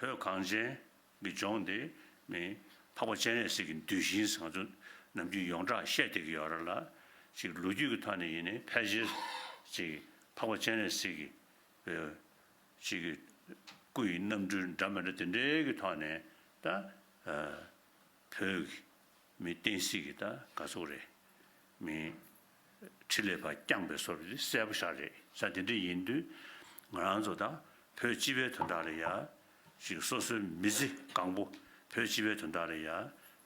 བོད་གངས་ཅན་གྱི་ལྗོངས་འདི་ནི་འཕགས་པ་སྤྱན་རས་གཟིགས་ཀྱི་འདུལ་ཞིང་བཟང་ཆུ་ནམ་རྒྱུན་ཡོངས་གྲགས་བཤད་བསྡད་ཀྱི་ཡོད་ར་ལ། ཅིག་ལོ་རྒྱུས་ཀྱི་ཐོག་ནས་ཡིན་ནི་ཕལ་ཆེར་ཅིག་འཕགས་པ་སྤྱན་རས་གཟིགས་ཀྱི་བའི་ཅིག་གི་སྐུ་ཡི་རྣམ་འཕྲུལ་འདྲ་མི་འདྲ་དེ་འདྲའི་གི་ཐོག་ནས་ད་བོད་ཀྱི་མི་བསྟན་སྲིད་ཀྱི་ད་དགའ་ཚོར་རེད་མིན། ཁྲི་ལས་པ་བསྐྱངས་པའི་སོར་འདི་གསལ་པོ་ཤར་རེད་ས་དེ་འདྲ་ཡིན་དུས་ང་རང་ཚོ་དང་བོད་སྤྱི་བའི་དོན་དག་ལ་ཡ་ཞིག་སོ་སོའི་མི་ཚེ་གང་པོ་བོད་སྤྱི་བའི་དོན་དག་ལ་ཡ་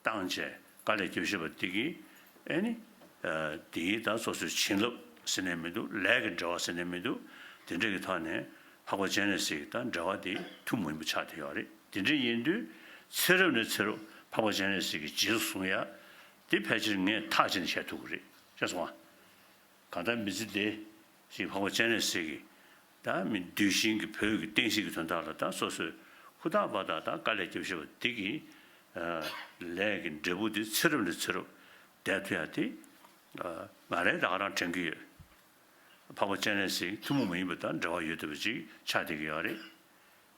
བཏང་བྱས་ག་ལས་སྐྱོ་ཤེས་པ་འདི་གི་ཨེ་ནི་འདི་གི་ད་སོ་སོའི་བྱིན་རླབས་ཟེར་ནས་མི་འདུག་ལས་ཀྱི་འབྲེལ་བ་ཟེར་ནས་མི་འདུག་དེ་འདྲ་གི་ཐོག་ནས་འཕགས་པ་སྤྱན་རས་གཟིགས་ཀྱི་ད་འབྲེལ་བ་འདི་ཐུགས་མི་མི་ཆགས་དེ་ཡོད་རེད་དེ་འདྲ་ཡིན་དུས་ཚེ་རབས་ནས་ཚེ་རུབ་འཕགས་པ་སྤྱན་རས་གཟིགས་ཀྱི་རྗེས་སུ་བཟུང་ཡ་དེ་ཕལ་ཆེར་ངས་ཐག་བཅད་ནས་བཤད་ཐུབ་ཀྱི་རེད་ཅེས་གསུངས། གང་ལྟར་མི་ཚེ་འདི་ཞིག་འཕགས་པ་སྤྱན་རས་གཟིགས་ཀྱིས་དང་མི་འདུལ་ཞིང་གི་བོད་ཀྱི་བསྟན་སྲིད་ཀྱི་དོན་དག་ལ་དང་སོ་སོས་ཧུར་ཐག་བར་ཐག་དང་དཀའ་ལས་སྐྱོབས་ཤེས་པ་འདི་གི་ལས་ཀྱི་འབྲས་བུ་འདི་ཚེ་རབས་ནས་ཚེ་རབས་འདས་མཐུ་ཡང་དེ་ང་རེ་དག་རང་དྲན་གྱི་ཡོད། འཕགས་པ་སྤྱན་རས་གཟིགས་ཐུན་མོང་མ་ཡིན་པ་དང་འབྲེལ་བ་ཡོད་དུས་པ་ཅིག་ཆགས་བསྡད་ཀྱི་ཡོད་རེད།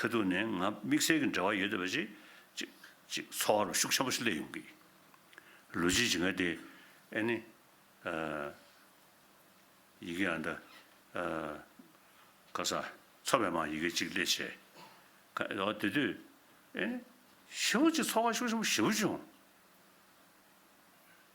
ཁ་ཐུག་ནས་ང་དམིགས་བསལ་གྱི་འབྲེལ་བ་ཡོད་དོ་བའི་ཅིག། ཅིག། ཅིག་ཚོགས་ཨ་རུ་ཤུགས་ཆེན་པོ་ཞིག་སླེབས་ཡོང་གི། ལུས་ཀྱི་ཇི་འགའ་དེ། ཨེ་ནི། ཨ། ཡི་གེ་ཨ་མདའ། ཨ། ཀ་ས། ཚོ་བའི་མང་ཡི་གེ་ཅིག་སླེབས་བྱས། ཁ། ཨོ་དེ་དུས། ཨེ་ནི། ཤི་བོ་ཅིག་ཚོགས་ཨ་ཤུགས་ཆེན་པོ་ཞི་བོ་བྱུང།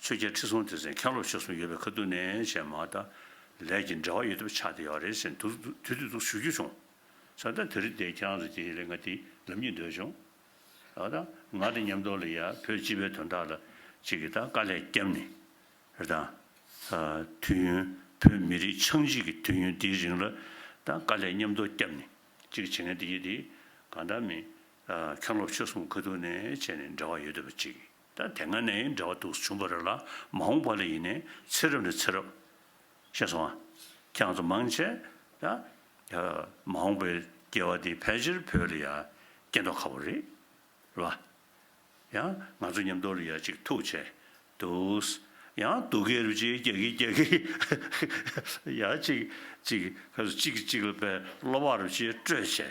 ཆོས་རྒྱལ་ཁྲི་སྲོང་ལྡེ་བཙན་མཁན་སློབ་ཆོས་གསུམ་ཡོད་པའི་ཁ་བསྡུར་ནས་བྱས་མ་ད་ལས་ཀྱི་འབྲེལ་བ་ཡོད་ཐུབ་ཆགས་བསྡད་ཡོད་རེད་ཟེར་འདུག་དུས་དུས་སུ་ཞུ་རྒྱུ་བྱུང། ས་ད་དེ་རིང་བསྡད་ཀྱང་རེད་དེ་ལས་ང་དེ་ལབ་ཉེ་འདོད་བྱུང། ད་ད་ང་དེ་ཉམས་རྟོགས་ལ་ཡ་བོད་སྤྱི་པའི་དོན་དག་ལ་ཅིག་གིས་ད་དཀའ་ལས་བརྒྱབ་ནས་རེད་ད། དུས་ཡུན་བོད་མི་རིགས་ཆགས་འཇིག་གི་དུས་ཡུན་འདིའི་རིང་ལ་ད་དཀའ་ལས་ཉམས་རྟོགས་བརྒྱབ་ནས་ཅིག་བྱེད་ངེས་འདི་ཡིན་དེ་གང་འདྲ་མིན་མཁན་སློབ་ཆོས་གསུམ་ཁ་བསྡུར་ནས་བྱས་ནས་འབྲེལ་བ་ཡོད་ཐུབ་པ་ཅིག། ད་དེ་སྔ་ནས་འདྲ་བ་འདུག་བྱུང་བ་རེ་ལ་མ་འོངས་པ་ལ་ཡིན་ནས་ཚེ་རབས་ནས་ཚེ་རབས། ཤེས་སོང་ཨ། ཁྱེད་ཚོ་མང་ཆེ་ད། མ་འོངས་པའི་སྐྱེ་བ་འདི་ཕལ་ཆེར་བོད་ལ་ཡ། སྐྱེ་མདོག་ཁ་བོ་རེད། ལ། ཡང་ང་ཚོ་མཉམ་འདོར་ཡ་ཅིག་ཐུག་ཆེ། འདུག། ཡང་སྡུག་གི་རུ་ཅིག་རྒྱག་གི་རྒྱག་གི། ཡ་ཅིག། ཅིག། ཅིག་གཅིག་ལ་བལ་སློ་བ་རུ་ཅིག་སྤྲོད་ཆེ།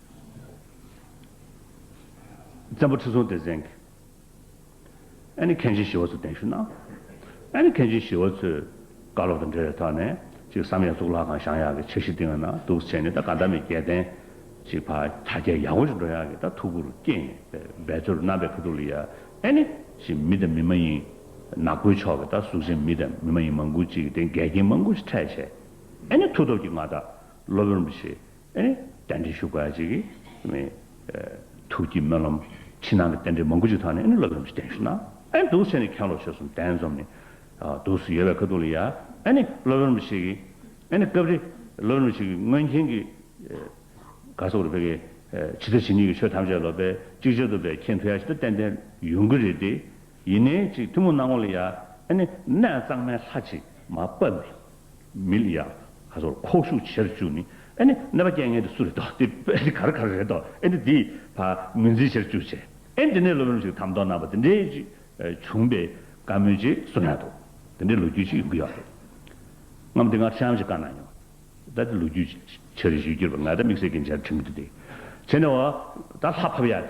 བཙན་པོ་ཁྲི་སྲོང་ལྡེ་བཙན་གྱིས་ཨ་ནེ་གྷན་ཇི་ཞི་བ་ཚོར་གདན་ཞུ་གནང། ཨ་ནེ་གྷན་ཇི་ཞི་བ་ཚོས་བཀའ་སློབ་དང་འབྲེལ་བའི་ཐོག་ནས་ཅིག་བསམ་ཡས་གཙུག་ལག་ཁང་བཞེངས་ཡག་གི་ཆེ་བཞི་སྟེང་ན་འདུག་བྱས་ནས་ད་ག་ཟླ་མེད་རྒྱལ་བསྟན་ཅིག་ཕ་གྱ་རྒྱལ་ཡག་པོ་ཞིག་འགྲོ་ཡག་གི་ད་ཐུགས་ཁུར་སྐྱེས་ནས་པའི་འབད་རྩོལ་རུ་གནང་པའི་ཕུ་ཐུག་ལ་ཡ་ཨ་ནེ་ཞེས་མི་དང་མི་མ་ཡིན་ནག་པོའི་ཕྱོགས་ཀྱི་ད་གཟུགས་ཅན་མི་དང་མི་མ་ཡིན་མང་ཀུན་ཅིག་གི་སྟེང་འགལ་རྐྱེན་མང་ཀུན་ཞིག་འཕྲད་བྱས་ཨ་ནེ་མཐུ་སྟོབས་ཀྱིས་ང་ད་སློབ་ཡོང་རུ་ཞེས་རྟེན་འབྲེལ་ཞུགས་པ་ཅིག་གིས། ཐུགས་ཀྱི་སྨོན་ལམ། ཕྱི་ནང་གི་རྟེན་འབྲེལ་མང་པོ་ཅིག་ཐག་ནས་བསླབ་ལམ་ཅིག་གཏན་ཞུས་ན། དུག་སེལ་ནི་ཁྱང་ལོ་ཆོས་སུམ་གཏན་འཛོམས་ནི། དུག་སུ་ཡོད་པའི་ཁ་ཐུག་ལ་ཡ། བསླབ་ལམ་ཅིག་གིས། སྐབས་རེ། བསླབ་ལམ་ཅིག་གིས་སྔོན་མཁྱེན་གྱི། ག་སོགས་རེ་བས། ཇི་ལྟ་ཇི་སྙེད་ཀྱི་ཆོས་ཐམས་ཅད་ལོ་པས་གཅིག་ཆོད་དུ་བས་མཁྱེན་ཐུ་ཡ་ཇི་ལྟར་ཏན་ཏན་ཡོང་གི་རེད་དེ། ཡིན་ནའི་ཅིག་ཐུན་མོང་སྣང་ངོ་ལ་ཡ། གནས་གཙང་མའི་ལྷ་ཅིག་མ་དཔའ་མི། མི་ལ་ཡག། ཁ་སོར་ཁོག་ཤུགས་ཆེར་བཅུག་ནི། ཨེ་ནི་ནད་པ་རྐྱེན་ངན་དུ་སུ་རེད་དོ། དེ་ཨེ་ནི་ག་རེ་ག་རེ་རེད་དོ། ཨེ་ནི་དེའི་བ་ངོས་འཛིན་ཆེར་བཅུག་བྱས། ཨེ་ནི་དེ་ནས་ལོ་རིམ་ཞིག་དམ་འདོགས་གནང་བ་དེ་འདྲའི་ཅིག་བྱུང་པའི་བཀའ་མོལ་ཅིག་གསུང་ཡག་འདུག་དེ་འདྲའི་ལོ་རྒྱུས་ཅིག་ཡོང་གི་ཡོད་རེད། ངའམ་དེ་སྔར་ཆའམ་ཞིག་བཀའ་གནང་མྱོང། ད་དེ་ལོ་རྒྱུས་ཆེར་བཞུས་གྱུར་པ་ང་ད་དམིགས་བསལ་གྱིས་མཇལ་དུ་ཁྲིད་མི་ཐུབ་དེ། བྱས་ནས་འོ་ད་ལྷ་ཕབ་ཡག་རེད།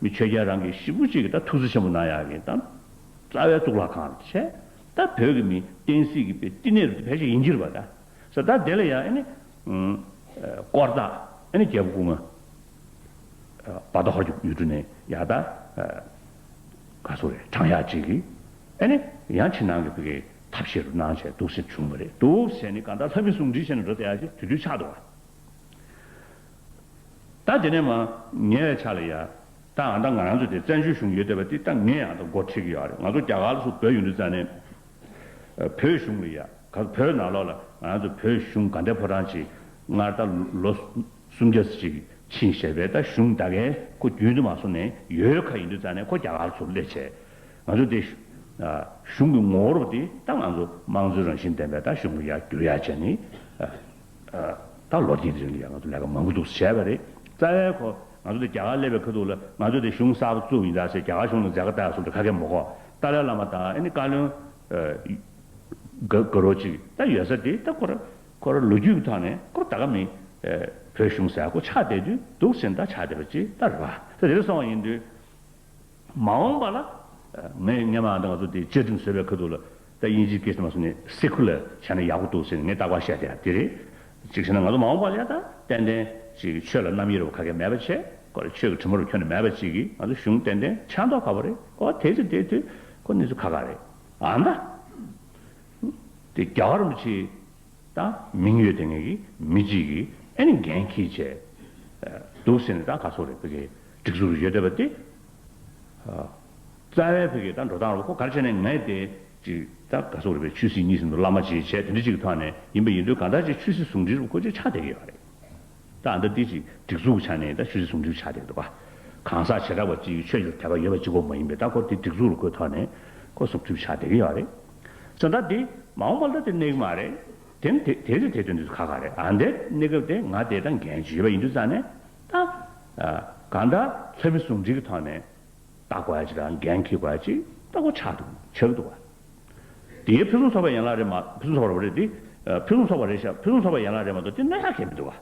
མི་ཆོས་རྒྱལ་རང་གི་ཤི་བོ་གཅིག་གིས་ད་ཐུགས་རྗེ་ཆེན་པོ་གནང་ཡག་གིན་དང། རྩ་བའི་གཙུག་ལག་ཁང་དུ་ཆས། ད་བོད་ཀྱི་མི་བསྟན་སྲིད་ཀྱི་པའི་བསྟི་གནས་རུ་བེད་ཅིག་ཡིན་གྱིར་བ་ད། ས་ད་དེ་ལ་ཡང་ཨེ་ནི། དཀོར་བདག་ཨེ་ནི་རྒྱལ་པོ་སྐུ་ངོ། བ་རྡོ་ཧོར་གྱི་ཡུལ་གྲུ་ནས་ཡག་ད། ག་སོ་རེད་དྲང་ཡག་ཅིག་གིས་ཨེ་ནི། ཡང་ཕྱི་ནང་གི་བི་གའི་ཐབས་ཤེས་རུ་གནང་བྱས་དུག་སེལ་བྱུང་བ་རེད་དུག་སེལ་ནི་ག་ད་ལྷ་མི་སྲུང་འདྲི་བྱས་ནས་འགྲོ་ད་ཡག་ཅིག་དུས་དུས་ཆགས་འདུག་བ། ད་དེ་ནས་མ་ངེས་བའི་ཆ་ལ་ཡ། ད་ང་ད་ང་རང་ཚོ་དེ་བཙན་བྱོལ་གཞུང་ཡོད་བསྡད་པ་དེ་ད་ངས་ཡང་ད་མགོ་ཁྲིད་ཀྱི་ཡོད་རེད་ང་ཚོ་རྒྱ་གར་ལ་སུ་བོད་ཡུལ་འདི་རྩ་ནས་བོད་གཞུང་ལ་ཡ་ག་ཚོ་བོད་ནང་ལོག་ལ་ང་རང་ཚོ་བོད་གཞུང་ག་འདྲའི་ཕོ་བྲང་ཅིག་སྔར་ད་ལོ་སུམ་བརྒྱ་ཚོ་ཅིག་ཕྱིན་བཤད་པའི་ད་གཞུང་ད་གའི་ཁོ་རྒྱུན་དུ་མ་སོང་ནས་ཡོད་ག་ཡིན་འདུག་རྩ་ནས་ཁོ་རྒྱ་གར་ཚོ་སླེབས་ཆེད་ང་ཚོ་དེ་གཞུང་གི་ངོ་བོར་བ་དེ་ད་ང་ཚོ་དམངས་གཙོའི་རང་བཞིན་ལྡན་པའི་ད་གཞུང་ལ་ཡ་གྱུར་ཡ་བྱས་ནས། ད་ལོ་དེའི་རིང་ལ་ཡང་ང་ཚོ་ལས་ཀ་མང་པོ་འདུག་བྱས་པ་རེད། རྩ་བའི་ཁོ། ང་ཚོ་དེ་རྒྱ་གར་སླེབས་པའི་ཁ་ཐུག་ལ་ང་ཚོ་དེ་གཞུང་གསར་པ་བཙུགས་ཡིན་དྲག་ཆེ་རྒྱ་གར་གཞུང་ལ་མཛད་དཀའ་ལྟ་ཡག་སོང་དྲག་ཁ་སྐད་མོ་ཁོ། ཏཱ་ལའི་བླ་མ་དང་ཨ་ནི་བཀའ་བློན། དགའ་རོགས་གཅིག་ད་ཡོད་ས་དེ་ད་ཁོ་ར། ཁོ་ར་ལོ་རྒྱུས་ཀྱི་ཐོག་ནས་ཁོ་ར་ད་ག་མིན། བོད་གཞུང་གསར་ཁོ་ཆགས་བསྡད་དུས་འདུག་ཟེར་ནས་ད་ཆགས་བསྡད་པ་ཅི་ད་རེད་པ། ད་དེ་རིང་སོང་བ་ཡིན་དུས། མ་འོངས་པ་ལ། ངས་ངའི་མ་འདི་ང་ཚོ་དེ་བཅའ་ཁྲིམས་བཟོས་པའི་ཁུལ་དུ་ལ་ད་དབྱིན་ཇིའི་སྐད་ཆ་མ་གསུངས་ནས་སེ་ཁུ་ལ་བྱས་ན་ཡག་པོ་འདུག་ཟེར་ནས་ངས་བརྟག་པར་བཤད་དེ་ཡང་དེ་རེད། གཅིག་བྱས་ན་ང་ཚོ་མ་འོངས་པ་ལ་ཡང་ད་ཏན་ཏན་ཅིག་ཆོས་ལ་རྣམ་དབྱེ་རུ་ཁ་ཁས་མེད་པ་བྱེད་དགོས་རེད་ཆོས་ཀྱི་ཁྲི་མོ་རུ་ཁྱོན་ནས་མེད་པ་ཅིག་གིས་ང་ཚོ་གཞུང་ཏན་ཏན་ཆགས་མདོག་ཁ་པོ་རེད་ཨོ་དེ་ཚོ་དེ་དུས་ཁོ་གནས་ཚུལ་ཁ་ཁ་རེད་ཨ་མདའ། དེ་རྒྱ་གར་མི་ཆེ་ད་མིང་ཡོད་དེ་ངེད་ཀྱི་མི་གཅིག་གིས་ཨེ་ནི་འགན་ཁྱིས་བྱས་འདུག་ཟེར་ནས་ད་ག་ཚོགས་རེད་བོད་རྒྱལ། སྒྲིག་འཛུགས་རུ་ཡོད་བསྡད་པ་དེ། རྩ་བའི་བོད་ཀྱི་ད་འགྲོ་སྟངས་རུ་ཁོ་གར་བྱས་ནས་ངའི་དེ། ཅིག་ད་ག་སོག་རུ་བའི་ཆོས་སྲིད་གཉིས་ཟིན་འདུག་བླ་མ་ཅེས་བྱས་དེ་འདྲི་གཅིག་ཐོག་ནས་ཡིན་པ་ཡིན་དུས་གང་ལྟར་ཅིག་ཆོས་སྲིད་ཟུང་འབྲེལ་རུ་ཁོ་ཅིག་ཆགས་བསྡད་ཀྱི་ཡོད་པ་རེད། ད་ཨ་མདོ་འདི་ཅིག་སྒྲིག་འཛུགས་ཆགས་ནས་ད་ཆོས་སྲིད་ཟུང་འབྲེལ་ཆགས་བསྡད་ཀྱི་འདུག་བ། གང་ཟག་བྱེ་བྲག་པ་ཅིག་ཆོས་ཀྱི་དད་པ་ཡོད་པ་ཅིག་ཁོ་མ་ཡིན་པས་ད་ཁོ་དེ་སྒྲིག་འཛུགས་རུ་ཁོའི་ཐོག་ནས། ཁོ་ཟུག་སྐྲུགས་ཆགས་བསྡད་ཀྱི་ཡོད་བ་རེད། ཟེར་ད་དེ། མ་འོངས་པ་ལ་དེ་གནས་ཀྱི་མ་རེད། དེ་ནི་དེ་དེ་རེད་དེ་དོན་དུ་ག་ག་རེད་ཨ་འདས་གནས་སྐབས་དེ་ང་དེ་ད་འགན་བྱེད་ཡོད་པ་ཡིན་དུས་རྩ་ནས། ད་ག་འདྲ་ཚོད་མི་ཟུང་འབྲེལ་གྱི་ཐོག་ནས་བལྟ་དགོས་ཅིག་དང་འགན་འཁྱེར་དགོས་ཅིག་ལྟ་གོ་ཆག་འདུག་ཆག་འདུག་བ། དེ་ཕུན་སུམ་ཚོགས་པའི་ཡན་ལག་རེད་མ་ཕུན་སུམ་ཚོགས་པ་རེད་དེ་ཕུན་སུམ་ཚོགས་པ་རེད་ཤག་ཕུན་སུམ་ཚོགས་པའི་ཡན་ལག་རེད་མ་གཏོགས་དེ་སྣོད་ཡག་གལ་མི་འདུག་བ།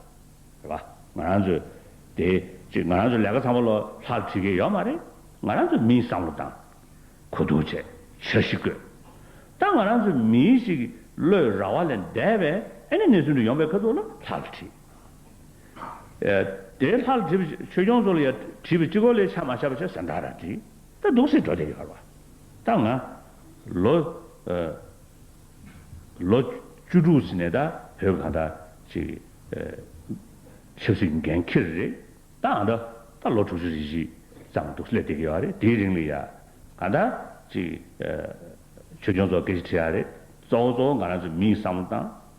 རེད་པ། ང་རང་ཚོས་དེ་ཅིག་ང་རང་ཚོས་ལས་ཀ་ཚང་མ་ལོ་ལྷག་བྲིས་ཀྱི་ཡོད་མ་རེད། ང་རང་ཚོས་མིའི་བསམ་བློ་དང། གོ་རྟོགས་བཅས་འཆར་གཞི་བཀོད། ད་ང་རང་ཚོས་མིའི་ཞིག་བློའི་ར་བ་ལས་འདས་པའི་ཨེ་ནས་ནས་ཚུན་དུ་ཡོང་པའི་ཁ་ཐུག་ལ་ལྷག་བྲིས། དེའི་ལྷར་བྲིས་པའི་ཆོས་སྐྱོང་ཚོགས་ལ་ཡང་བྲིས་པའི་སྤྱི་སྐོར་ལས་ཕྱག་མ་ཕྱག་པ་ཆོས་གསན་དག་ར་བྲིས། ད་གདུགས་སེར་སྒྲོ་དེ་ཡོད་པར་བ། ད་ང། ལོ། ལོ། བཅུ་དྲུག་ཚེ་ནས་ད་བོད་གང་ད་ཅིག། ཆབ་སྲིད་འགན་འཁྱེར་རེད། ད་ཨ་མདོ། ད་ལོ་དྲུག་ཅུ་རེ་བཞི། ཙམ་གདུགས་སེར་ལས་དེ་གི་ཡོད་རེད་དེའི་རིང་ལ་ཡ། གང་ད་ཅིག། ཆོས་སྐྱོང་ཚོགས་སྐད་ཆ་ཁྲི་ཡ་རེད། གཙོ་བོ་གཙོ་བོ་ང་རང་ཚོ་མིའི་བསམ་བློ་དང།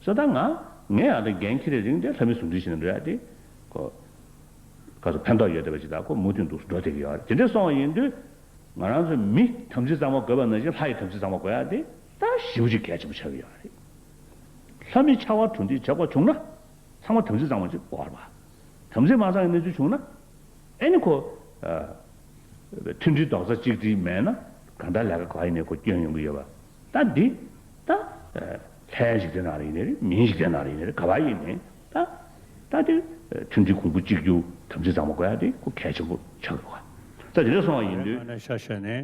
སོ་ད་ང་ངས་ཡང་དང་འགན་འཁྱེར་རིང་དེ་ལྷ་མི་ཟུང་འབྲེལ་ཞིག་ན་འགྲོ་ཡ་དེ། ཁོ། ག་སོ་ཕན་ཐོག་ཡོད་བསྡད་པ་ཅིག་ད་ཁོ་མུ་མཐུད་འདུག་སུ་འགྲོ་དེ་གི་ཡོད་རེད་དེ་འདྲས་སོང་བ་ཡིན་དུས། ང་རང་ཚོ་མི་དམ་ཚིག་གཙང་མ་དགོས་པ་ནང་བཞིན་ལྷ་ཡི་དམ་ཚིག་གཙང་མ་དགོས་ཡ་དེ། ད་ཞི་བུ་ཅིག་གལ་ཆེན་པོ་ཆགས་ཀྱི་ཡོད་རེད། ལྷ་མི་ཕྱར་བ་གྲུ་འདེགས་བྱེད་དགོས་བྱུང་ན། ཚང་མ་དམ་ཚིག་གཙང་མ་ཅིག་དགོས་རེད། དམ་ཚིག་མ་གཙང་བའི་གནས་ཚུལ་བྱུང་ན། ཨེ་ནི་ཁོ། མཐུན་སྒྲིལ་རྡོག་རྩ་གཅིག་སྒྲིལ་མེད་ན་གང་ལྟར་ལས་ཀ་ག་ཡིན་ནས་ཁོ་སྐྱོན་ཡོང་གི་ཡོད་པ། ད་འདི། ད། ལྷའི་འཇིག་རྟེན་ན་རེ་ཡིན་ནི། མིའི་འཇིག་རྟེན་ན་རེ་ཡིན་ནི་ག་བ་ཡིན་ནི། ད། ད་འདི། མཐུན་སྒྲིལ་གོང་བུ་གཅིག་གྱུར་དམ་ཚིག་གཙང་མ་དགོས་ཡ་འདི་སྐུ་གལ་ཆེན་པོ་ཆགས་ཡོད་ག། ད་འདི་ལ་སོང་བ་ཡིན་དུས། ཡང་ན་ཤ་ཤེད་ནི།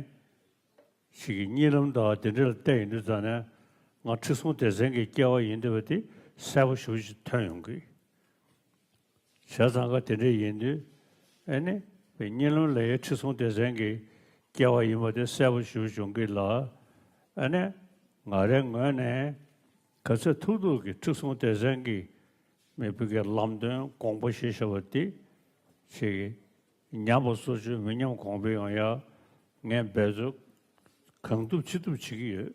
ཞིག་གིས་གཉིད་ལམ་དག་འདི་འདྲ་ལ་བལྟས་ཡིན་དུས་ད་ནི། ང་ཁྲི་སྲོང་ལྡེ་བཙན་གྱི་སྐྱེ་བ་ཡིན་འདོད་པ་འདི་གསལ་པོ་ཞུ་ཅིག་ཐོན་ཡོང་གི། བྱས་ཙང་ཀ་དེ་འདྲས་ཡིན་དུས་ཨེ་ནི་བའི་གཉེན་སློང་ལ་ཡའི་ཁྲི་སྲོང་ལྡེ་བཙན་གྱིས་བསྐྱལ་བ་ཡིན་པ་དེ་གསལ་པོ་ཞུ་བྱུང་གི་ལ་ཨེ་ནི་ང་རའི་ངོས་ནས་ག་ཚོད་ཐུག་ཐུག་གི་ཁྲི་སྲོང་ལྡེ་བཙན་གྱིས་མི་བུ་གའི་ལམ་སྟོན་དགོངས་པ་བཞེས་བཞེས་པ་འདི་ཆེ་གི་ཉམས་པ་སོ་ཅུང་མི་ཉམས་གོང་འཕེལ་ཡོང་ཡག་ངས་འབད་རྩོལ་གང་ཐུབ་ཅི་ཐུབ་བྱེད་ཀྱི་ཡོད།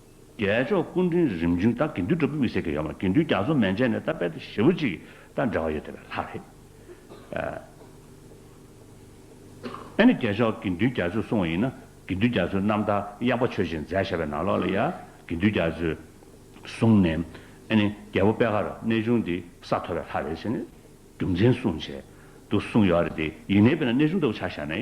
རྒྱལ་མཆོག་སྐུ་དྲིན་རིམ་བྱོན་ད་དགེ་འདུན་སྒྲུབ་ཀྱི་མི་སེར་གྱི་ཡོད་མ་དགེ་འདུན་རྒྱ་མཚོ་མན་ཆད་ནས་ད་དཔལ་ཏེ་ཞེ་བོ་གཅིག་གི་ད་འབྲེལ་བ་ཡོད་དེ་བས་ལྷག་རེད་ཨ། ཨ་ནི་རྒྱལ་མཆོག་དགེ་འདུན་རྒྱ་མཚོས་གསུང་བ་ཡིན་ན་དགེ་འདུན་རྒྱ་མཚོས་རྣམ་ཐར་གཡག་པ་ཆོས་བཞིན་མཛད་བཞག་པའི་ནང་ལོགས་ལ་ཡ་དགེ་འདུན་རྒྱ་མཚོས་གསུང་ནས་ཨ་ནི་རྒྱལ་པོ་པད་ཁ་ར་གནས་ཆུང་དེ་ས་ཐོབ་པའི་ལྷ་རེད་ཅེས་ནས་རྒྱུ་མཚན་གསུང་བྱས་འདུག་གསུང་ཡོད་རེད་དེ་ཡིན་ནའི་དཔེར་ན་གནས་ཆུང་ལྟ་བུ་ཆགས་བཞག་ནའི་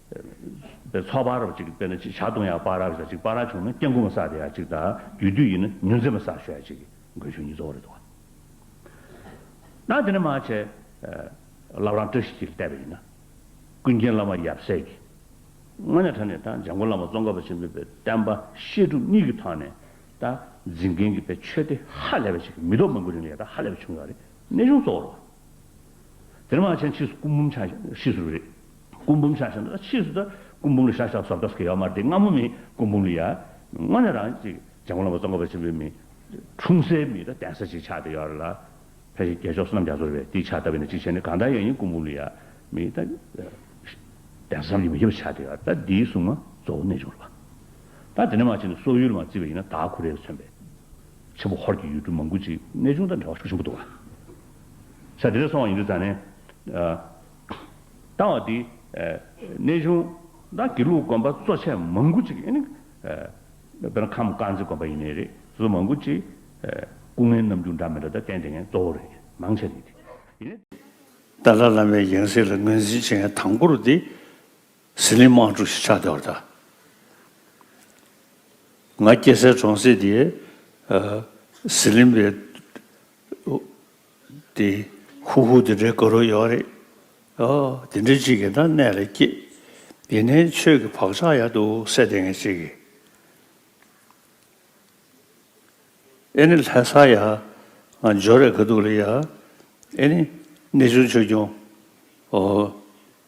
པའི་ཚོགས་པར་རབ་ཅིག་དཔེར་ན་ཅིག་བྱ་གདོང་ཡང་པར་རབ་བྱ་ཅིག་པར་ར་བྱུང་ན་སྐྱེ་འགུགས་མ་བསགས་དེ་ཡང་ཅིག་དང་རྒྱུ་དུས་ཡིན་ན་ཉུལ་མཛེས་མ་བསགས་ཞོ་ཡང་ཅིག་དགོས་ཆོས་ཉིད་གཙོ་བོར་རེ་དོགས། ན་དེ་ནི་མ་བྱས། བླ་བྲང་བཀྲ་ཤིས་འཁྱིལ་བལྟས་པ་ཡིན་ན། ཀུན་མཁྱེན་བླ་མ་ཡབ་སྲས་ཀྱི། སྔོན་ནས་གྲགས་ནས་དང་འཇམ་མགོན་བླ་མ་ཙོང་ཁ་པ་ཆེན་པོའི་བསྟན་པ་བཤད་སྒྲུབ་གཉིས་ཀྱི་ཐོག་ནས། དང་འཛིན་མཁན་གྱི་པའི་ཆོས་སྡེ་ཧ་ལས་པ་ཞིག་གི་མི་ཐོག་མང་པོའི་རིང་ལ་ཡ་ད་ཧ་ལས་པ་བྱུང་ཡོད་རེད་གནས་གཞུང་གཙོ་བོར་བ། དེར་མ་ཆེན་ཕྱིས་སུ་སྐུ་འབུམ་ཆགས་ཤིང་ཕྱིས་སུ་རེད། སྐུ་འབུམ་ཆགས་ཤིང་ཕྱིས་སུ་ད་སྐུ་འབུམ་ལ་ཤ་ཤ་ཟོབ་ཏོས་ཀྱི་ཡོག་མ་རེད་སྔ་མོ་མིའི་སྐུ་འབུམ་ལ་ཡ། དངོས་ནས་རང་ཅིག་རྒྱལ་མོ་ལོ་མ་བཙོང་ཁ་པ་ཆེན་པོའི་མིང། འཁྲུངས་སའི་མིང་དང་གདན་ས་ཅིག་ཆགས་ཏེ་ཡོག་རེད་ལ། ཕལ་ཆེར་རྒྱལ་མཆོག་བསོད་ནམས་རྒྱ་མཚོ་རེད་དེའི་ཕྱག་བཏབ་པས་ན་ཅིག་བྱས་ནས་གང་ལྟར་ཡང་ཡིན་སྐུ་འབུམ་ལ་ཡ། མིང་དང། གདན་ས་ཙམ་གྱིས་མི་ཁྱབ་པ་ཆགས་ཏེ་ཡོག་རེད་ད་འདིའི་གཟུངས་མ་གཙོ་བོ་གནས་བྱུང་རེད་པ། ད་དེ་ནས་མ་ཆེན་ནས་སོག་ཡུལ་ལ་མ་བརྩིས་པ་ཡིན་ན་དྭགས་ཁུ་རེ་ལ་མཚོན་པའི། ཆེན་པོ་ཧོར་གྱི་ཡུལ་གྲུ་མང་པོ་ཅིག་གནས་བྱུང་དང་འབྲེལ་བ་ཤུགས་ཆེན་པོ་འདུག་ལ། ས་དེ་རུ་སོང་བ་ཡིན་དུས་ས་ནས་བཏང་བ་དེ་གནས་ཆུང་དང་དགེ་ལུགས་དགོན་པ་གཙོ་ཆེ་མང་པོ་ཅིག་ཡིན། དཔེར་ན་ཁམས་དཀར་མཛེས་དགོན་པ་ཡིན་ནི་རེད་སོ་མང་པོ་ཅིག་སྐུ་ངལ་རྣམ་འགྱུར་འདྲ་མི་འདྲ་དང་བསྟན་དེ་ངའི་གཙོ་བོ་རེད་མང་ཆེ་ནི་དེ་ཏཱ་ལ་བླ་མའི་ཡང་སྲིད་ལ་ངོས་འཛིན་བྱེད་མཁན་དང་པོ་རུ་དེ་ཟི་ལིང་དམག་འཁྲུག་ཞིག་ཆགས་དེ་བར་ད་ང་སྐྱེ་སའི་གྲོང་གསེབ་དེ་ཟི་ལིང་པའི་དེ་ཧུ་ཧུ་དེ་འདྲའི་དགའ་རོགས་ཡོད་རེད། དེ་འདྲའི་ཅིག་གི་ན་གནས་ལ་སྐྱེས། ཡིན་ནའི་ཆོས་ཀྱི་བག་ཆགས་ཡག་འདུག་སེ་དེ་ངས་ཅིག་གི། ཨེ་ནི་ལྷད་ས་ཡ། ང་འཇོ་རེ་ག་འདུག་ལ་ཡ། ཨེ་ནི་གནས་ཆུང་ཆོས་སྐྱོང། ཨོ།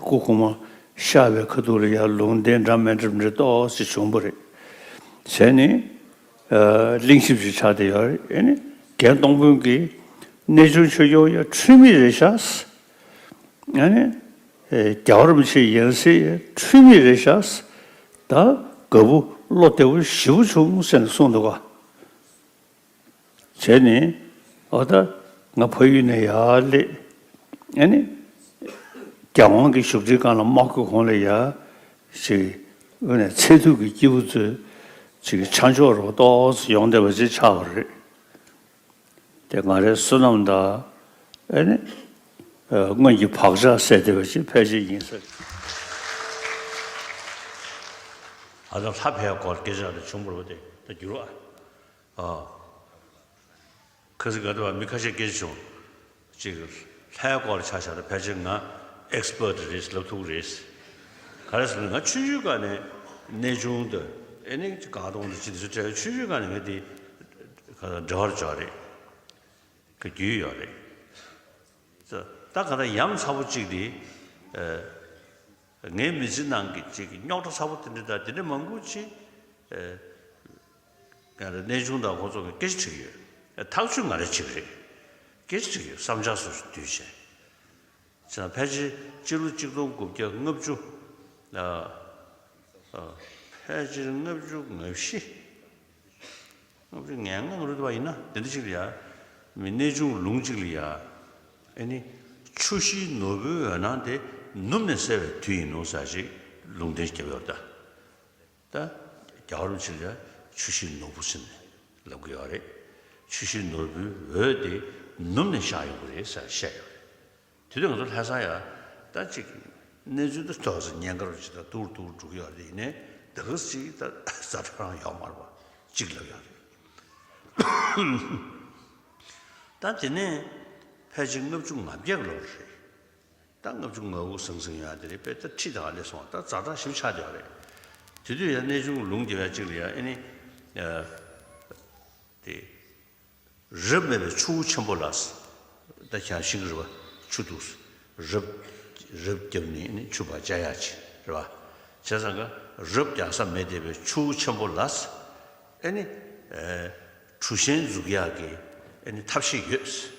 སྐུ་གོང་མ་ཤར་བའི་ཁ་ཐུག་ལ་ཡར་ལུང་བསྟན་འདྲ་མན་གྲུབ་འབྲེལ་ཏོག་ཙེ་བྱུང་པ་རེད། བྱས་ནས་གླིང་ཞིབ་ཅིག་ཆགས་བསྡད་ཡོད་རེད། ཨེ་ནས་རྒན་སྟོང་དཔོན་གྱིས་གནས་ཆུང་ཆོས་སྐྱོང་ཡང་འཁྲུལ་མེད་རེད་ཤགས། ཨེ་ནས་རྒྱ་བར་མི་ཆེ་ཡན་སེ་ཡང་འཁྲུལ་མེད་རེད་ཤགས། ད་དགའ་བོ་བློ་བདེ་བོ་ཞི་བོ་བྱུང་ཟེར་ནས་གསུངས་འདུག་ག། བྱས་ནས་ཨོ་ད་ང་ཕ་ཡུལ་ནས་ཡར་སླེབས་ཨ་ནི། རྒྱལ་དབང་གི་བཞུགས་ཁྲི་སྒང་ལ་དམག་གི་གོང་ལས་ཡར་ཞིག་དབུས་ནས་ཚད་ཐུག་གི་སྐྱེས་བུ་ཚོས་ཅིག་ཆ་མཆོག་རོ་ཏོག་སུ་ཡོང་བསྡད་པ་ཅིག་ཆགས་པ་རེད། དེ་ང་རའི་བསོད་ནམས་དང་ཨ་ནི། སྔོན་གྱི་བག་ཆགས་སད་བསྡད་པ་ཅིག་ཕལ་ཆེར་ཡིན་ས་རེད། ཨ་ད་ལྷ་བྷའི་སྐོར་སྐད་ཆ་རེ་བྱུང་བར་འོ་དེ་ད་བསྒྱུར་བ། ཁ་ཟི་ག་ཏུ་བ་མི་ཁ་ཤས་སྐད་ཆ་བྱུང། གཅིག། ལྷའི་སྐོར་ཆ་བཞག་ན་ཕལ་ཆེར་ང། Expert། རེད་ལབ་ཐུག་རེད། ག་རེ་ཟེར་ན་ང་ཆུ་ཤུལ་ཀ་ནས་གནས་ཆུང་དུ། ཨེ་ནི་ག་གདོང་དུ་ཅི་འདི་ཚོ་བྲལ་བས་ཆུ་ཤུལ་ཀ་ནས་ང་འདི། ག་ད་འབྲེལ་བར་འཇོག་རེད། ག་རྒྱུས་ཡོད་རེད། ད་ད་ག་ད་ཡམ་ཚ་པོ་གཅིག་འདི། ངའི་མི་ཚེ་ནང་གི་གཅིག་རྙོག་དྲ་ཚ་པོ་དེ་འདྲ་ད་དེ་འདྲ་མང་པོ་ཅི། ཡང་རེད་གནས་ཆུང་དང་ཁོང་ཚོ་གི་སྐད་ཆ་འཁྲིགས་ཡོད་ཨེ་ཐག་ཆོད་མ་རེད་ཅིག་རེད་སྐད་ཆ་འཁྲིགས་ཡོད་བསམ་ཆགས་སུ་འདུས་བྱས་ཚེ་ན་ཕལ་ཆེར་སྤྱི་ལོ་གཅིག་སྟོང་དགུ་བརྒྱ་ལྔ་བཅུ་ཕལ་ཆེར་ལྔ་བཅུ་ང་བཞི་ལྔ་བཅུ་ངན་ལྔ་ང་རུ་བ་ཡིན་ན་དེ་འདྲ་ཅིག་ལ་ཡ་མི་གནས་ཆུང་ལུང་ཅིག་ལ་ཡ་ཨེ་ནི་ཆུ་བཞིའི་ནོར་བུའི་འོད་སྣང་དེ་ནུབ་ནས་གསལ་བའི་དུས་ཡིན་ནོ་ཟ་ཞིག་ལུང་བསྟན་རྒྱབ་ཡོར་ད། ད་རྒྱ་གར་བྱེས་ཀྱང་ཆུ་བཞི་ནོར་བུ་ཟིན་ནས་ལབ་དགོས་ཡོད་རེད། ཆུ་བཞི་ནོར་བུའི་འོད་དེ་ནུབ་ནས་བཞག་ཡོང་གི་རེད་ཟེར་བཤད་ཡོད་རེད། དེ་དུས་ང་ཚོ་ལྷས་བཟང་ཡག་ད་ཅིག་གནས་ཚུལ་འདི་ཐོས་ཟིན་ཉེན་ཁར་བྱེས་ད་ཏུར་ཏུར་འགྲོ་གི་ཡོད་རེད་ཡིན་ནས་ད་གིར་ཅིག་ད་རྫ་ཁྲ་རང་ཡོག་མར་བ་ཅིག་ལབ་ཡོད་རེད། ད་དེ་ནས་ཕལ་ཆེར་ལྔ་བཅུ་ང་བརྒྱད་ལོར་རེད། ད་ལྔ་བཅུ་ང་དགུ་ཟང་ཟིང་ཡང་དེ་རིང་དཔེ་ལྟར་ཁྲིད་དང་སླེབས་སོང་ད་རྫ་དྲག་ཞིམ་ཆགས་བསྡད་པ་རེད། དེ་དུས་ཡང་གནས་ཆུང་ལུང་རྒྱ་བས་གཅིག་ལ་ཡང་ཨེ་ནི། དེ། རབ་མེད་པའི་ཆུ་བོ་ཆེན་པོ་ལགས། ད་གྱང་ཤིང་རི་བ་ཆུ་འདུག། རབ། རབ་རྒྱབ་ནི་ཨེ་ནི་ཆུ་བ་ཅག་ཡག་ཆེ་རེད་བ། བྱས་ཙང་ཀ། རབ་རྒྱག་ས་མེད་བསྡད་པའི་ཆུ་བོ་ཆེན་པོ་ལགས། ཨེ་ནི། གྲུ་ཤན་འཛུགས་ཡག་གི་ཨེ་ནི་ཐབས་ཤེས་ཡོད།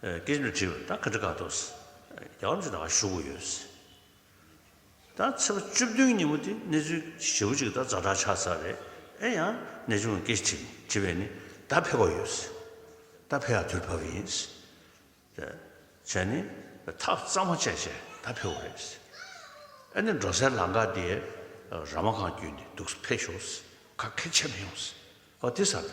སྐད་ཆ་དྲིས་པ་ད་ག་འདྲི་ག་ཐུབ། རྒྱ་གར་ཅིག་ད་ག་ཞུགས་ཡོད། ད་ཚེས་པ་བཅུ་བདུན་ཉིན་མོ་དེ་གནས་ཚུལ་ཞེ་བོ་ཅིག་ད་རྫ་དྲག་ཆགས་ཚར་རེད་ཨེ་ཡང་ནས་ཅུང་སྐད་ཆ་དྲིས་པས་ནི་ད་ཕེབས་པ་ཡོད། ད་ཕེབས་ཡ་དུས་བབ་པ་ཡིན། བྱས་ནི་ཐག་གཙང་མ་བཅད་བྱས་ད་ཕེབས་པ་རེད། ཨེ་ནས་འགྲོ་སའི་ལང་ཀ་དེའི་ར་མ་གང་བརྒྱུད་ནས་འདུག་ཕེབས་ཤོག་ག་ཁེར་ཆད་མི་ཡོང། ཨོ་དེ་ས་ད།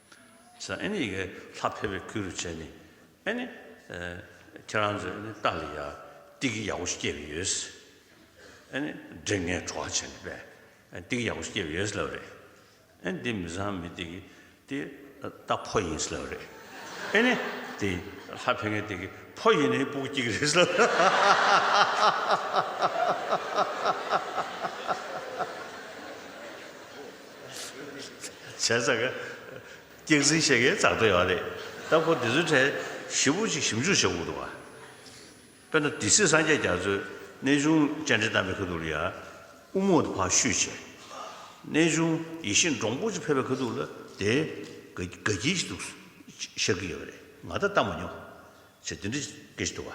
ས་ཨེ་ནི་ཡི་གེ་ལྷ་ཕལ་པའི་ཁུལ་རུ་བྱས་ནས་ཨེ་ནི། ཁྱེད་རང་ཚོས་ནི་ཏཱ་ལི་ཡ་ཏི་གི་ཡག་པོ་ཞིག་སྐྱེས་པ་ཡོད། ཨེ་ནི། འདྲེ་ངན་བྲོ་བ་བྱས་ནས་པའི་ཏི་གི་ཡག་པོ་ཞིག་སྐྱེས་པ་ཡོད་ལབ་རེད། ཨེ་ནི། འདི་མི་བཟང་མི་ཏི་གི་ཏི་ཏ་ཕོ་ཡིན་ལབ་རེད། ཨེ་ནི། འདི་ལྷ་ཕལ་ངན་ཏི་གི་ཕོ་ཡིན་ནི་པུག་སྐྱིག་རེད་ལབ་རེད། བྱས་ཙང་ཀ་སྐྱག་རྫིང་བཤད་མཁན་བཙག་སྟེ་ཡོད་རེད་སྟབས་ཁོ་དེ་ཚོའི་གྲས་ཞིབ་པོ་ཅིག་ཞིབ་འཇུག་བྱེད་དགོས་འདུག་དཔེར་ན་དེ་སྲིད་སངས་རྒྱས་རྒྱ་མཚོས་གནས་ཆུང་བཅར་འདྲི་བཏང་པའི་ཁ་ཐུག་ལ་ཡ་དབུ་མོ་དེ་ཕག་ཤུད་བྱས། གནས་ཆུང་ཡེ་ཤེས་འབྲོང་པོ་ཅིག་ཕེབས་པའི་ཁ་ཐུག་ལ་དེ་དགའ་དགའ་སྐྱིད་ཅིག་འདུག་ཤག་གི་ཡོད་རེད་ང་ད་ལྟ་མ་མྱོང། ཅེས་དེ་འདྲ་སྐད་ཅིག་འདུག་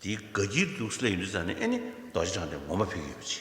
དེ་དགའ་སྐྱིད་འདུག་སླད་ཡུན་དུ་བཙལ་ནས་ཨེ་ནི་རྡོ་རྗེ་འཆང་དེ་ངོ་མ་ཕེབས་ཀྱི་ཡོད་པ་ཅི།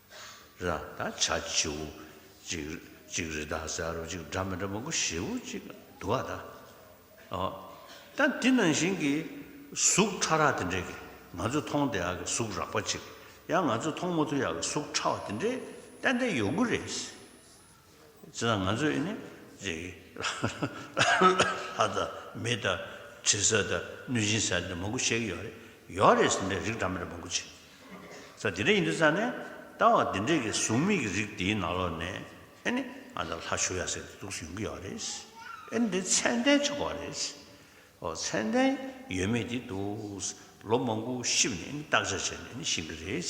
ར་དང་བྱ་བྱེའུ་གཅིག། གཅིག་རི་དྭགས་ཟ་རུ་གཅིག། སྒྲ་མི་འདྲ་མང་པོ་བྱེའུ་གཅིག། དུ་བ་དང། ད་འདི་ནང་བཞིན་གྱི་གཟུགས་ཕྲ་རགས་དེ་འདྲས་ཀྱི་ང་ཚོས་མཐོང་བདེ་ཡག་གི་གཟུགས་རགས་པ་གཅིག། ཡང་ང་ཚོས་མཐོང་མ་ཐུབ་ཡག་གི་གཟུགས་ཕྲ་བ་དེ་འདྲས་ཏན་ཏན་ཡོད་དགོས་རེད། བྱེད་ན་ང་ཚོས་ནི་ལྷ་དང་མི་དང་དྲི་ཟ་དང་གནོད་སྦྱིན་ཟ་འདི་མང་པོ་བཤད་ཀྱི་ཡོད་རེད། ཡོད་རེད་ཟེར་འདྲ་རིགས་འདྲ་མིན་མང་པོ་བྱེད། ས་འདི་འདྲ་ཡིན་འདུག་ས་ནས་ལྟ་བ་འདི་འདྲས་ཀྱི་གཟུགས་མེད་ཀྱི་རིགས་འདིའི་ནང་ལོགས་ནས་ཨེ་ནི་ང་ཚོ་ལྷ་བཞུགས་ཡ་ཟེར་གྱི་འདུག་ཡོང་གི་ཡོད་རེད། ཨེ་ནི་དེ་ཚད་ལྡན་བྱེད་དགོས་རེད། ཨོ་ཚད་ལྡན་ཡོད་མེད་དེ་འདུག་ལོ་མང་པོ་ཞིབ་ནས་ཨེ་ནི་བརྟག་དཔྱད་བྱས་ནས་ཨེ་ནི་ཤེས་ཀྱི་རེད།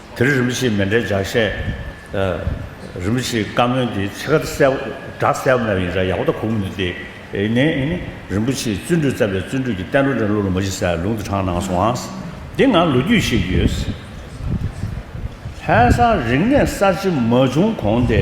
དེར་རིན་པོ་ཆེས་མེ་འདྲའི་ལྗགས་བཤད། རིན་པོ་ཆེའི་བཀའ་མོལ་འདི་ཕྱེད་ཀར་གསལ་བོ་བསྒྲགས་གསལ་བོ་མེད་པ་ཡིན་ས་ཡག་པོ་ད་གོ་གི་མི་འདུག་དེ་ནས་རིན་པོ་ཆེའི་བརྩོན་འགྲུས་རྩ་བའི་བརྩོན་འགྲུས་ཀྱི་བསྟན་འགྲོ་འདྲེན་བློ་ལུང་མ་བཞི་སའི་ལུང་དུ་དྲངས་གནང་སོང་ཨང། འདི་ང་ལོ་རྒྱུས་ཤེས་ཀྱི་ཡོད། ལྷན་སར་རིག་གནས་གསར་བརྗེ་མ་བྱུང་གོང་དེ།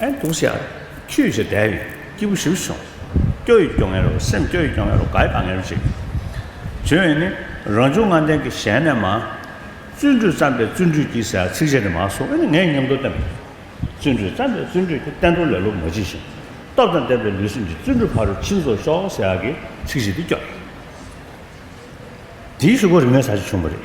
ཨེ་འདུག་ཤ་ཁྱུས་བྱས་དལ་ཡི་སྐྱིད་པོ་ཞིག་བྱུང། སྐྱོ་ཡི་སྐྱོ་ངལ་རོ་སེམས་སྐྱོ་ཡི་སྐྱོ་ངལ་རོ་དགའ་ཡི་དགའ་ངལ་རོ་ཅིག། བྱུང་བས་ནི་རང་བྱུང་ངང་ལྡན་གྱི་གཞན་ནས་མ། བརྩོན་འགྲུས་བརྩམས་པས་བརྩོན་འགྲུས་ཀྱིས་ཟེར་ཚིག་གཅིག་དེ་མ་གསུངས་ཨེ་ནི་ངས་ཉམས་རྟོགས་བསྟན་པ་ཡིན། བརྩོན་འགྲུས་བརྩམས་པས་བརྩོན་འགྲུས་ཀྱིས་བསྟན་དོན་ལེ་ལོ་མ་བགྱིས་ཤིང། སྟོབས་དང་ལྡན་པའི་ལུས་སེམས་ཀྱི་བརྩོན་འགྲུས་ཕ་རོལ་ཕྱིན་རྫོགས་ཤོག་ཟེར་ཡག་གི་ཚིག་གཅིག་དེ་སྐྱོ། དེའི་ཤུགས་ཀོ་རིག་གནས་ས་ཆ་ཆུང་བ་རེད།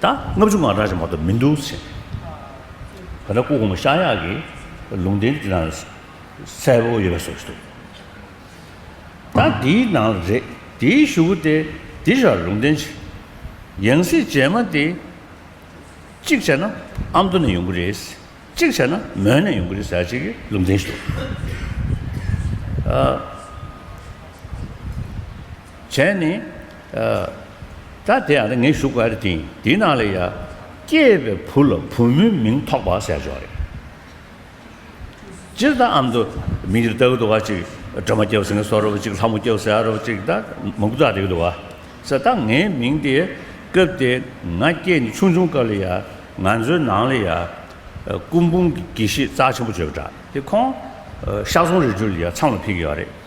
ད་ལྔ་བཅུ་ང་རང་ཅང་མ་གཏོགས་མི་འདུག་ཟེར། ད་ལྟ་སྐུ་གོང་མ་ཤཱ་གཡག་གིས་ལུང་བསྟན་འདི་དང་གསལ་བོ་ཡོད་པ་བཟོ་གི་འདུག་ད་འདིའི་ནང་ལ་རེད་འདིའི་ཞུ་བོ་སྟེ་འདི་ར་ལུང་བསྟན་ཆེ། ཡང་སྲིད་རྗེས་མ་དེ་གཅིག་བྱས་ན་ཨ་མདོ་ནས་ཡོང་གི་རེད་གཅིག་བྱས་ན་མོན་ནས་ཡོང་གི་རེད་ཟེར་བྱས་ཀྱི་ལུང་བསྟན་ཞུ། བྱས་ནས། ད་དེ་ཡང་ངས་ཞུ་དགོས་པ་རེད་དེ། དེའི་ནང་ལ་ཡ། སྐྱེས་པའི་བུ་ལ་བུ་མོའི་མིང་ཐོགས་པ་ཟེར་ཆོག་རེད། སྤྱིར་བཏང་ཨམ་དུ་མིང་རེ་བཏགས་ཡོད་འདུག་བ་ཅིག་སྒྲོལ་མ་སྐྱེ་བ་སེང་གེ་སོགས་རེད་བ་ཅིག་ལྷ་མོ་སྐྱེ་བ་ཟེར་ཡ་རེད་བ་ཅིག་ད་མང་པོ་བཏགས་འདུག་བ། ཟེར་ད་ངའི་མིང་དེ་སྐབས་དེ་ང་སྐྱེས་ནས་ཆུང་ཆུང་སྐབས་ལ་ཡ། ང་ཚོའི་ནང་ལ་ཡ། སྐུ་འབུམ་གྱི་དགེ་བཤེས་རྩ་ཆེན་པོ་བྱོས་པ་འདྲ། དེ་ཁོང། ཤག་ཟུང་རེ་བརྒྱུད་ལ་ཡ་ཚང་ལ་ཕེབས་ཀྱི་ཡོད་རེད།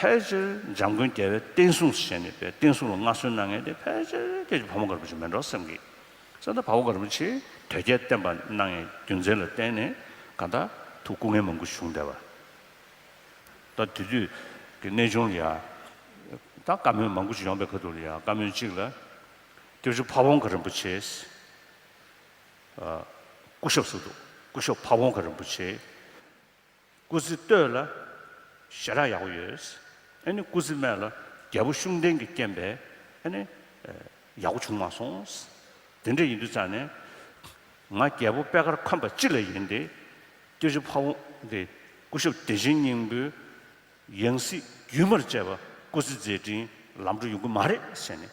ཕལ་ཆེར་འཇམ་མགོན་རྒྱལ་བའི་བསྟན་སྲུང་བྱས་ནས་པའི་བསྟན་སྲུང་ལ་མངའ་གསོལ་གནང་མཁན་དེ་ཕལ་ཆེར་ཁྱེད་ཀྱི་བུ་མོ་མགར་བུ་ཆེ་མེ་འབྲོག་སེམས་ཀྱིས་གསན་ད་བ་བོ་མགར་བུ་ཆེས་དོལ་རྒྱལ་བསྟེན་པ་གནང་ཡས་རྒྱུ་མཚན་ལ་བརྟེན་ནས་ག་ད་དུ་སྐུ་ངལ་མང་པོ་བྱུང་བསྡད་པ་ད་དེ་དུས་ཀྱི་གནས་ཆུང་ལ་ཡང་ད་བཀའ་མོལ་མང་པོ་ཅིག་ཡོང་པའི་ཁ་ཐུག་ལ་ཡང་བཀའ་མོལ་གཅིག་ལ་སྐྱབས་བཅོལ་ཕ་བོང་ཁ་རིན་པོ་ཆེས་སྐུ་ཞབས་སུ་འདུག་སྐུ་ཞབས་ཕ་བོང་ཁ་རིན་པོ་ཆེས། སྐུ་ཚེ་སྟོད་ལ་ཞེ་དྲག་ཡག་པོ་ཡོད། ཨ་ནི་སྐུ་ཚེ་སྨད་ལ་རྒྱལ་པོ་ཤུགས་ལྡན་གྱི་རྐྱེན་པས་ཨ་ནི་ཡག་པོ་བྱུང་མ་སོང། དེ་འདྲ་ཡིན་དུས་ཙང་ནས་ང་རྒྱལ་པོ་པད་དཀར་ཁམས་པ་སྤྱི་ལ་ཡིན་ཏེ། སྐྱེ་བྱེད་ཕ་བོང་སྟེ་སྐུ་ཞབས་བདེ་ཆེན་སྙིང་པོའི་ཡང་སྲིད་རྒྱུན་མར་བཅས་པ་སྐུ་ཚེ་མཛད་ཕྲིན་ལམ་འགྲོ་ཡོང་གི་མ་རེད་ཟེར་ནས་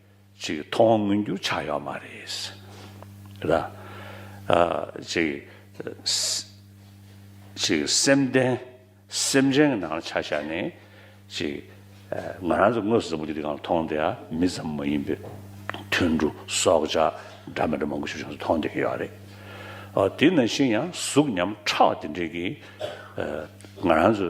ཅིག་ཐོག་དབང་མངོན་འགྱུར་ཆགས་ཡོད་མ་རེད། ལ། ཅིག། ཅིག་སེམས་ལྡན། སེམས་ཅན་གྱི་ནང་ལ་ཆ་བཞག་ནས། ཅིག། ང་རང་ཚོ་དངོས་སུ་ཟབ་མོ་འདི་དེ་ག་ལ་མཐོང་བསྡད་ཡ་མི་ཙམ་མ་ཡིན་པའི། དུད་འགྲོ། སྲོག་ཆགས། འདྲ་མི་འདྲ་མང་པོ་ཞིག་ཆུང་ཚོ་མཐོང་བསྡད་ཀྱི་ཡོད་རེད། དེ་ནང་བཞིན་ཡང་གཟུགས་ཉམས་ཁྲག་དེ་འདྲས་ཀྱིས། ང་རང་ཚོ།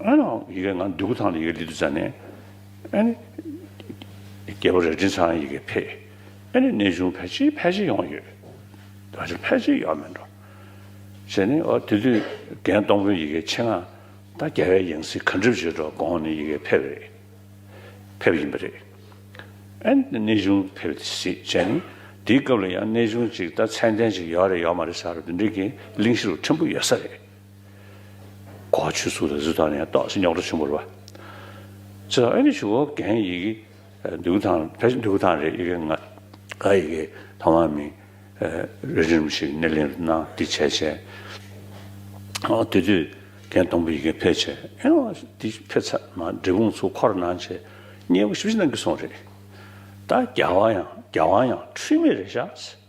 ཨ་ནི། ཡི་གེ་ང་འདུས་སྐུ་ཐང་ལ་ཡི་གེ་འདི་འདུས་ཚར་ནས། ཨ་ནི། རྒྱལ་པོ་རལ་གྲི་ཚང་ཡི་གེ་ཕེ། ཨ་ནི་གནས་ཆུང་ཕལ་ཆེར་ཕལ་ཆེར་ཡོང་གི་ཡོད། ད་ཆ་ཕལ་ཆེར་ཡོང་མི་འགྲོ། ཟེར་ནས་ཨོ་དེ་དུས་རྒན་སྟོང་པོའི་ཡི་གེ་ཕྱེ་ང་ད་རྒྱལ་བའི་ཡང་སྲིད་གར་འགྲིབ་བྱེད་འགྲོ་དགོངས་ནས་ཡི་གེ་ཕེབས་རེད། ཕེབས་ཡིན་པ་རེད། ཨ་ནི་གནས་ཆུང་ཕེབས་ཏེ་གཟིགས་བྱས་ནས་དེའི་སྐབས་ལ་ཡང་གནས་ཆུང་ཅིག་ད་ཚད་ལྡན་ཅིག་ཡོད་རེད་ཡོད་མ་རེད་ས་རུ་འདི་འདྲའི་གི་གླིང་བཞི་རུ་ཕྲན་བུ་ཡོད་ས་རེད། གོ་ཆོད་སུ་ལ་ཟུ་ད་ནས་ཏོག་སི་ཉོག་ཏོ་ཆུ་འབོར་བ། ཚེ་ལ་ཨེ་ནི་ཆུ་བོ་གན་ཡི་གི་འདུག་ཐང་བེ་འདུག་ཐང་རེད་ཡི་གི་ང་ག་ཡི་གི་ཐང་བ་མི་རེ་རིམ་ཞིག་སྣེ་ལེན་རུ་ནང་དི་བྱས་བྱས། དེ་དུས་གན་སྟོང་བུ་ཡི་གི་ཕེ་བྱས་ཨེ་ཨོ་དི་ཕེ་ཚ་ན་འབྲི་གུང་ཚུ་འཁོར་ནང་བྱས་སྙེ་བོ་ཞིབ་ཞིབ་ནང་གི་སོང་རེད། ད་རྒྱ་བ་ཡང་རྒྱ་བ་ཡང་འཁྲུལ་མེད་རེད་ཤགས།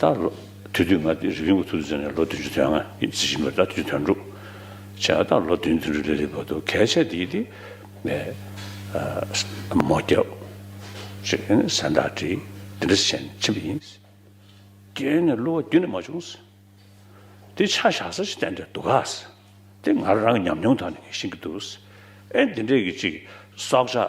ད་ལོ། དུས་བསྟུད་ང་དེ་རིག་གཞུང་གི་ཚོགས་འདུ་བྱས་ནས་ལོ་བདུན་ཅུ་དོན་ལྔ་ཡིན་ཟེར་བཞིན་པ་ད་དུས་དོན་དྲུག་བྱས་ད་ལོ་བདུན་བདུན་དྲུག་ལེ་ལེ་བར་དུ་གལ་ཆེ་དེ་དེ་ནས་མོ་སྐྱབས། ཞེས་ཡོན་ནས་གཟན་བདག་བྲིས་དེ་འདྲ་བྱས་ནས་ཕྱིན་པ་ཡིན། དེ་ནས་གླུ་བ་རྒྱུན་ནས་མ་བྱུང། དེ་ཆ་བཞག་ས་ཞིག་བསྟན་འདྲ་འདུག་ག། དེ་ང་རང་གི་ཉམས་མྱོང་དག་ནས་ཤེས་ཀྱི་འདུག་ཨེ་འདི་འདྲས་ཀྱི་ཅིག་སྲོག་ཆགས།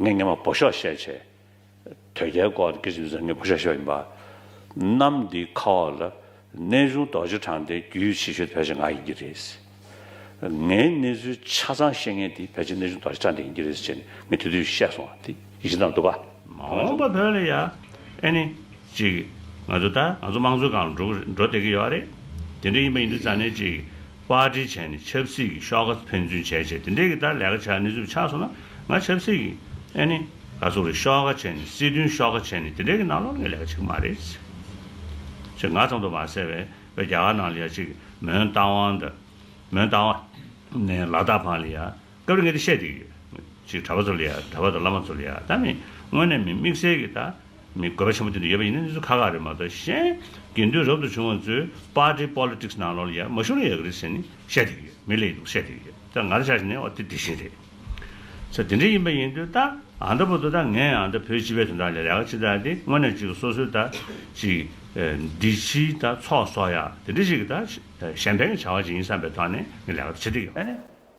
ངས་ངེད་མ་བོ་ཤོག་བཤད་བྱས། དོལ་རྒྱལ་སྐོར་དུ་སྐད་ཅིག་མི་ཟ་ངེད་བོ་ཤོག་བཤད་ཡིན་པ། གནམ་འདིའི་ཁ་འོག་ལ་གནས་ཆུང་རྡོ་རྗེ་འཕྲང་སྟེ་རྒྱུས་ཡོད་ཆེ་ཤོས་དེ་ཕལ་ཆེར་ང་ཡིན་གྱི་རེད། ངའི་གནས་ཚུལ་ཆ་ཚང་ཤེས་མཁན་དེ་ཕལ་ཆེར་གནས་ཆུང་རྡོ་རྗེ་འཕྲང་དེ་ཡིན་གྱི་རེད་ཅེས་ནི་ངས་དེ་དུས་བཤད་སོང་བ་དེ་ཡིད་ཆེས་དང་འདུག་ག། མ་འོངས་པ་བོད་ལ་ཡ། ཨེ་ནི། ཅིག། ང་ཚོ་ད། ང་ཚོ་དམངས་གཙོའི་སྒང་ལ་འགྲོ་འགྲོ་བསྡད་ཀྱི་ཡོད་རེད། དེ་འདྲ་ཡིན་པ་ཡིན་དུས་རྩ་ནས་ཅིག། པར་འབྲེལ་བྱས་ནས་ཆབ་སྲིད་ཀྱི་ཤོག་ཁག་ཕན་ཚུན་བྱས་རྗེས་དེ་འདྲའི་གི་ལྟར་ལས་ཀ་བྱ་གནས་ཚུལ་ཆགས་སོང་ན་ང་ཆབ་སྲིད་ཀྱི། ཨེ་ནི། ག་ཚོགས་རེད་ཤོག་ཁག་བྱས་ནས་སྲིད་དོན་ཤོག་ཁག་བྱས་ནས་དེ་འདྲའི་གི་ནང་ལོག་ནས་ལས་ཀ་བྱེད་གི་མ་རེད། ཅེས་ང་ཙམ་དུ་མ་ཟེར་བས་བའི་རྒྱ་གར་ནང་ལ་ཡ་ཅིག་མོན་རྟ་དབང་དང། མོན་རྟ་དབང། ནས་ལ་དྭགས་བྷང་ལི་ཡ། སྐབས་རེ་ངས་དེ་བཤད་དེ། ཅིག་གྲྭ་པ་ཚོ་ལ་ཡ་གྲྭ་པ་དང་བླ་མ་ཚོ་ལ་ཡ་ད་མི། དངོས་གནས་མི་དམིགས་བསལ་གི་ད། མི་དགོས་པ་ཆེན་པོ་དེ་འདྲ་ཡོད་པ་ཡིན་ན་གནས་ཚུལ་ཁག་ཁག་རེད་མ་གཏོགས་གཞན། དགེ་འདུན་རབ་ཏུ་བྱུང་བ་ཚོས Party Politics ནང་ལོགས་ལ་ཡ་མ་ཤོར་ན་ཡག་གི་རེད་ཟེར་ནས་བཤད་དེ་ཡོད་མི་ལས་འདུག་བཤད་དེ་ཡོད་ད་ང་ར་ཆགས་བཞིན་ནས་ཨོ་དེ་དེ་བཞིན་རེད། ཚེ་དེ་འདྲ་ཡིན་པ་ཡིན་དུས་ད་ཨ་མདའ་བུ་དོ་ད་ངས་ཨ་མདའ་བོད་སྤྱི་བའི་དོན་དག་ལས་རེ་ཁ་ཅིག་བཏགས་ཏེ་དངོས་གནས་ཅིག་སོ་སོའི་ད་ཅིག་འདི་ཕྱི་ད་ཚོགས་གསོག་ཡ་དེ་འདྲ་ཞིག་གི་ད་གཞན་ཕན་གི་བྱ་བ་ཅིག་ཡིན་བསམ་པའི་ཐོག་ནས་ངས་ལས་ཁ་དེ་བྱེད་དེ་ཡོད།